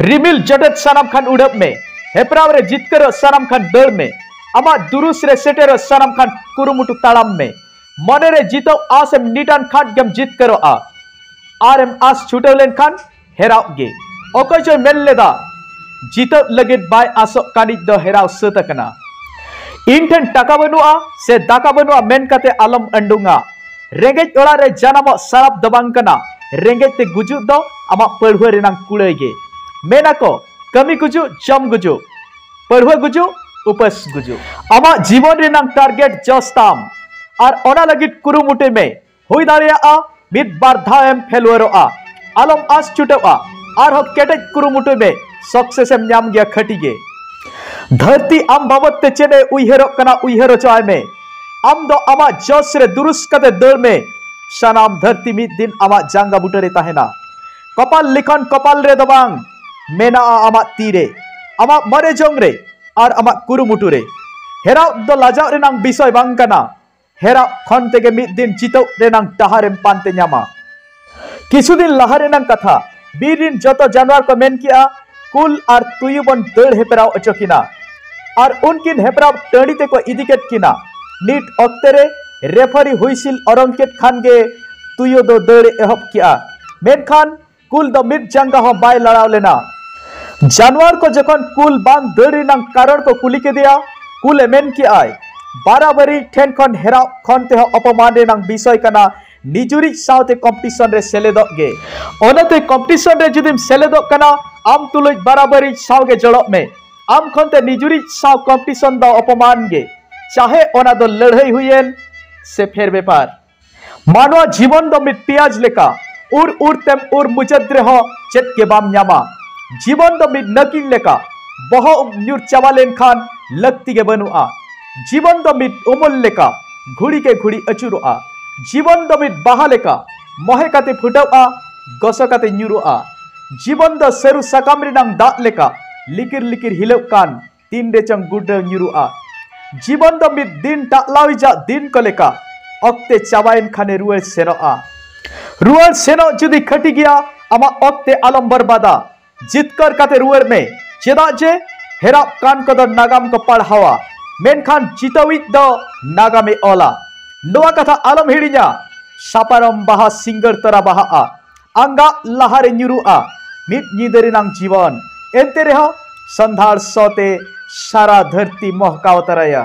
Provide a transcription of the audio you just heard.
ᱨᱤᱢᱤᱞ ᱡᱚᱴᱮᱫ ᱥᱟᱱᱟᱢ ᱠᱷᱟᱱ ᱩᱰᱟᱹᱵ ᱢᱮ ᱦᱮᱯᱨᱟᱣ ᱨᱮ ᱡᱤᱛᱠᱟᱹᱨᱚᱜ ᱥᱟᱱᱟᱢ ᱠᱷᱟᱱ ᱫᱟᱹᱲ ᱢᱮ ᱟᱢᱟᱜ ᱫᱩᱨᱩᱥ ᱨᱮ ᱥᱮᱴᱮᱨᱚᱜ ᱥᱟᱱᱟᱢ ᱠᱷᱟᱱ ᱠᱩᱨᱩᱢᱩᱴᱩ ᱛᱟᱲᱟᱢ ᱢᱮ ᱢᱚᱱᱮ ᱨᱮ ᱡᱤᱛᱟᱹᱣ ᱟᱥ ᱮᱢ ᱱᱤᱴᱟᱱ ᱠᱷᱟᱱ ᱜᱮᱢ ᱡᱤᱛᱠᱟᱹᱨᱚᱜᱼᱟ ᱟᱨ ᱮᱢ ᱟᱥ ᱪᱷᱩᱴᱟᱹᱣ ᱞᱮᱱᱠᱷᱟᱱ ᱦᱮᱨᱟᱣ ᱜᱮ ᱚᱠᱚᱭ ᱪᱚᱭ ᱢᱮᱱ ᱞᱮᱫᱟ ᱡᱤᱛᱟᱹᱣ ᱞᱟᱹᱜᱤᱫ ᱵᱟᱭ ᱟᱥᱚᱜ ᱠᱟᱱᱤᱡ ᱫᱚ ᱦᱮᱨᱟᱣ ᱥᱟᱹᱛ ᱟᱠᱟᱱᱟ ᱤᱧ ᱴᱷᱮᱱ ᱴᱟᱠᱟ ᱵᱟᱹᱱᱩᱜᱼᱟ ᱥᱮ ᱫᱟᱠᱟ ᱵᱟᱹᱱᱩᱜᱼᱟ ᱢᱮᱱ ᱠᱟᱛᱮ ᱟᱞᱚᱢ ᱟᱹᱰᱩᱝᱟ ᱨᱮᱸᱜᱮᱡ ᱚᱲᱟᱜ ᱨᱮ ᱡᱟᱱᱟᱢᱚᱜ ᱥᱟᱨᱟᱯ ᱫᱚ ᱵᱟᱝ ᱠᱟᱱᱟ ᱨᱮᱸᱜᱮᱡ ᱛᱮ ᱜᱩᱡᱩᱜ ᱫᱚ ᱟᱢᱟᱜ ᱯᱟᱹᱲᱦᱩᱣᱟᱹ ᱨᱮᱱᱟᱝ ᱠᱩᱲᱟᱹᱭ ᱜᱮ ᱢᱮᱱᱟ ᱠᱚ ᱠᱟᱹᱢᱤ ᱜᱩᱡᱩᱜ ᱡᱚᱢ ᱜᱩᱡᱩᱜ ᱯᱟᱹᱲᱦᱩᱣᱟᱹ ᱜᱩᱡᱩᱜ ᱩᱯᱟᱹᱥ ᱜᱩᱡᱩᱜ ᱟᱢᱟᱜ ᱡᱤᱵᱚᱱ ᱨᱮᱱᱟᱝ ᱴᱟᱨᱜᱮᱴ ᱡᱚᱥ ᱛᱟᱢ ᱟᱨ ᱚᱱᱟ ᱞᱟᱹᱜᱤᱫ ᱠᱩᱨᱩᱢᱩᱴᱩᱭ ᱢᱮ ᱦᱩᱭ ᱫᱟᱲᱮᱭᱟᱜᱼᱟ ᱢᱤᱫ ᱵᱟᱨ ᱫᱷᱟᱣ ᱮᱢ ᱯᱷᱮᱞᱩᱣᱟᱨᱚᱜᱼᱟ ᱟᱞᱚᱢ ᱟᱥ ᱪᱩᱴᱟᱹᱜᱼᱟ ᱟᱨᱦᱚᱸ ᱠᱮᱴᱮᱡ ᱠᱩᱨᱩᱢᱩᱴᱩᱭ ᱢᱮ ᱥᱚᱠᱥᱮᱥ ᱮᱢ ᱧᱟᱢ ᱜᱮᱭᱟ ᱠᱷᱟᱹᱴᱤ ᱜᱮ ᱫᱷᱟᱹᱨᱛᱤ ᱟᱢ ᱵᱟᱵᱚᱫ ᱛᱮ ᱪᱮᱫ ᱮ ᱩᱭᱦᱟᱹᱨᱚᱜ ᱠᱟᱱᱟ ᱩᱭᱦᱟᱹᱨ ᱦᱚᱪᱚ ᱟᱭ ᱢᱮ ᱟᱢ ᱫᱚ ᱟᱢᱟᱜ ᱡᱚᱥ ᱨᱮ ᱫᱩᱨᱩᱥ ᱠᱟᱛᱮ ᱫᱟᱹᱲ ᱢᱮ ᱥᱟᱱᱟᱢ ᱫᱷᱟᱹᱨᱛᱤ ᱢᱤᱫ ᱫᱤᱱ ᱟᱢᱟᱜ ᱡᱟᱸᱜᱟ ᱵᱩᱴᱟᱹ ᱨᱮ ᱛᱟᱦᱮᱱᱟ ᱠᱚᱯᱟᱞ ᱞᱮᱠᱷᱟᱱ ᱠᱚᱯᱟᱞ ᱨᱮ ᱫᱚ ᱵᱟᱝ ᱢᱮᱱᱟᱜᱼᱟ ᱟᱢᱟᱜ ᱛᱤ ᱨᱮ ᱟᱢᱟᱜ ᱢᱟᱨᱮ ᱡᱚᱝ ᱨᱮ ᱟᱨ ᱟᱢᱟᱜ ᱠᱩᱨᱩᱢᱩᱴᱩ ᱨᱮ ᱦᱮᱨᱟᱣ ᱫᱚ ᱞᱟᱡᱟᱣ ᱨᱮᱱᱟᱝ ᱵᱤᱥᱚᱭ ᱵᱟᱝ ᱠᱟᱱᱟ ᱦᱮᱨᱟᱣ ᱠᱷᱚᱱ ᱛᱮᱜᱮ ᱢᱤᱫ ᱫᱤᱱ ᱡᱤᱛᱟᱹᱣ ᱨᱮᱱᱟᱝ ᱰᱟᱦᱟᱨᱮᱢ ᱯᱟᱱᱛᱮ ᱧᱟᱢᱟ ᱠᱤᱪᱷᱩ ᱫᱤᱱ ᱞᱟᱦᱟ ᱨᱮᱱᱟᱜ ᱠᱟᱛᱷᱟ ᱵᱤᱨ ᱨᱤᱱ ᱡᱚᱛᱚ ᱡᱟᱱᱣᱟᱨ ᱠᱚ ᱢᱮᱱ ᱠᱮᱜᱼᱟ ᱠᱩᱞ ᱟᱨ ᱛᱩᱭᱩ ᱵᱚᱱ ᱫᱟᱹᱲ ᱦᱮᱯᱨᱟᱣ ᱚᱪᱚ ᱠᱤᱱᱟ ᱟᱨ ᱩᱱᱠᱤᱱ ᱦᱮᱯᱨᱟᱣ ᱴᱟᱺᱰᱤ ᱛᱮᱠᱚ ᱤᱫᱤ ᱠᱮᱫ ᱠᱤᱱᱟ ᱱᱤᱛ ᱚᱠᱛᱮ ᱨᱮ ᱨᱮᱯᱷᱟᱨᱤ ᱦᱩᱭᱥᱤᱞ ᱚᱨᱚᱝ ᱠᱮᱫ ᱠᱷᱟᱱ ᱜᱮ ᱛᱩᱭᱩ ᱫᱚ ᱫᱟᱹᱲ ᱮᱦᱚᱵ ᱠᱮᱜᱼᱟ ᱢᱮᱱᱠᱷᱟᱱ ᱠᱩᱞ ᱫᱚ ᱢᱤᱫ ᱡᱟᱸᱜᱟ ᱦᱚᱸ ᱵᱟᱭ ᱞᱟᱲᱟᱣ ᱞᱮᱱᱟ ᱡᱟᱱᱣᱟᱨ ᱠᱚ ᱡᱚᱠᱷᱚᱱ ᱠᱩᱞ ᱵᱟᱝ ᱫᱟᱹᱲ ᱨᱮᱱᱟᱜ ᱠᱟᱨᱚᱱ ᱠᱚ ᱠᱩᱞᱤ ᱠᱮᱫᱮᱭᱟ ᱠᱩᱞᱮ ᱢᱮᱱ ᱠᱮᱜᱼᱟᱭ ᱵᱟᱨᱟᱵᱟᱨᱤ ᱴᱷᱮᱱ ᱠᱷᱚᱱ ᱦᱮᱨᱟᱣ ᱠᱷᱚᱱ ᱛᱮᱦᱚᱸ ᱚᱯᱚᱢᱟᱱ ᱨᱮᱱᱟᱜ ᱵᱤᱥᱚᱭ ᱠᱟᱱᱟ ᱱᱤᱡᱩᱨᱤᱡ ᱥᱟᱶᱛᱮ ᱠᱚᱢᱯᱤᱴᱤᱥᱚᱱ ᱨᱮ ᱥᱮᱞᱮᱫᱚᱜ ᱜᱮ ᱚᱱᱟᱛᱮ ᱠᱚᱢᱯᱤᱴᱤᱥᱚᱱ ᱨᱮ ᱡᱩᱫᱤᱢ ᱥᱮᱞᱮᱫᱚᱜ ᱠᱟᱱᱟ ᱟᱢ ᱛᱩᱞᱩᱡ ᱵᱟᱨᱟᱵᱟᱹᱨᱤᱡ ᱥᱟᱶ ᱜᱮ ᱡᱚᱲᱚᱜ ᱢᱮ ᱟᱢ ᱠᱷᱚᱱ ᱛᱮ ᱱᱤᱡᱩᱨᱤᱡ ᱥᱟᱶ ᱠᱚᱢᱯᱤᱴᱤᱥᱚᱱ ᱫᱚ ᱚᱯᱚᱢᱟᱱ ᱜᱮ ᱪᱟᱦᱮ ᱚᱱᱟ ᱫᱚ ᱞᱟᱹᱲᱦᱟᱹᱭ ᱦᱩᱭᱮᱱ ᱥᱮ ᱯᱷᱮᱨ ᱵᱮᱯᱟᱨ ᱢᱟᱱᱣᱟ ᱡᱤᱵᱚᱱ ᱫᱚ ᱢᱤᱫ ᱯᱮᱸᱭᱟᱡᱽ ᱞᱮᱠᱟ ᱩᱨ ᱩᱨ ᱛᱮᱢ ᱩᱨ ᱢᱩᱪᱟᱹᱫ ᱨᱮᱦᱚᱸ ᱪᱮᱫ ᱜᱮ ᱵᱟᱢ ᱧᱟᱢᱟ ᱡᱤᱵᱚᱱ ᱫᱚ ᱢᱤᱫ ᱱᱟᱹᱠᱤᱧ ᱞᱮᱠᱟ ᱵᱚᱦᱚᱜ ᱧᱩᱨ ᱪᱟᱵᱟ ᱞᱮᱱᱠᱷᱟᱱ ᱞᱟᱹᱠᱛᱤ ᱜᱮ ᱵᱟᱹᱱᱩᱜᱼᱟ ᱡᱤᱵᱚᱱ ᱫᱚ ᱢᱤᱫ ᱩᱢᱩᱞ ᱞᱮᱠᱟ ᱜᱷᱩᱲᱤ ᱠᱮ ᱜᱷᱩᱲᱤ ᱟᱹᱪᱩᱨᱚᱜᱼᱟ ᱡᱤᱵᱚᱱ ᱫᱚ ᱢᱤᱫ ᱵᱟᱦᱟ ᱞᱮᱠᱟ ᱢᱚᱦᱮ ᱠᱟᱛᱮ ᱯᱷᱩᱴᱟᱹᱜᱼᱟ ᱜᱚᱥᱚ ᱠᱟᱛᱮ ᱧᱩᱨᱩᱜᱼᱟ ᱡᱤᱵᱚᱱ ᱫᱚ ᱥᱟᱹᱨᱩ ᱥᱟᱠᱟᱢ ᱨᱮᱱᱟᱝ ᱫᱟᱜ ᱞᱮᱠᱟ ᱞᱤᱠᱤᱨ ᱞᱤᱠᱤᱨ ᱦᱤᱞᱟᱹᱜ ᱠᱟᱱ ᱛᱤᱱ ᱨᱮ ᱪᱚᱝ ᱜᱩᱰᱨᱟᱹᱣ ᱧᱩᱨᱩᱜᱼᱟ ᱡᱤᱵᱚᱱ ᱫᱚ ᱢᱤᱫ ᱫᱤᱱ ᱴᱟᱜᱞᱟᱣᱤᱡᱟᱜ ᱫᱤᱱ ᱠᱚ ᱞᱮᱠᱟ ᱚᱠᱛᱮ ᱪᱟᱵᱟᱭᱮᱱ ᱠᱷᱟᱱᱮ ᱨᱩᱣᱟᱹᱲ ᱥᱮᱱᱚᱜᱼᱟ ᱨᱩᱣᱟᱹᱲ ᱥᱮᱱᱚᱜ ᱡᱩᱫᱤ ᱠᱷᱟᱹᱴᱤ ᱜᱮᱭᱟ ᱟᱢᱟᱜ ᱚᱠᱛᱮ ᱟᱞᱚᱢ ᱵᱚᱨᱵᱟᱫᱟ ᱡᱤᱛᱠᱟᱹᱨ ᱠᱟᱛᱮ ᱨᱩᱣᱟᱹᱲ ᱢᱮ ᱪᱮᱫᱟᱜ ᱡᱮ ᱦᱮᱨᱟᱜ ᱠᱟᱱ ᱠᱚᱫᱚ ᱱᱟᱜᱟᱢ ᱠᱚ ᱯᱟᱲᱦᱟᱣᱟ ᱢᱮᱱᱠᱷᱟᱱ ᱪᱤᱛᱟᱹᱣᱤᱡ ᱫᱚ ᱱᱟᱜᱟᱢᱮ ᱚᱞᱟ ᱱᱚᱣᱟ ᱠᱟᱛᱷᱟ ᱟᱞᱚᱢ ᱦᱤᱲᱤᱧᱟ ᱥᱟᱯᱟᱨᱚᱢ ᱵᱟᱦᱟ ᱥᱤᱝᱜᱟᱹᱲ ᱛᱚᱨᱟ ᱵᱟᱦᱟᱜᱼᱟ ᱟᱸᱜᱟ ᱞᱟᱦᱟᱨᱮ ᱧᱩᱨᱩᱜᱼᱟ ᱢᱤᱫ ᱧᱤᱫᱟᱹ ᱨᱮᱱᱟᱝ ᱡᱤᱵᱚᱱ ᱮᱱᱛᱮ ᱨᱮᱦᱚᱸ ᱥᱟᱱᱫᱷᱟᱲ ᱥᱚᱛᱮ ᱥᱟᱨᱟ ᱫᱷᱟᱹᱨᱛᱤ ᱢᱚᱦᱠᱟᱣ ᱛᱟᱨᱟᱭᱟ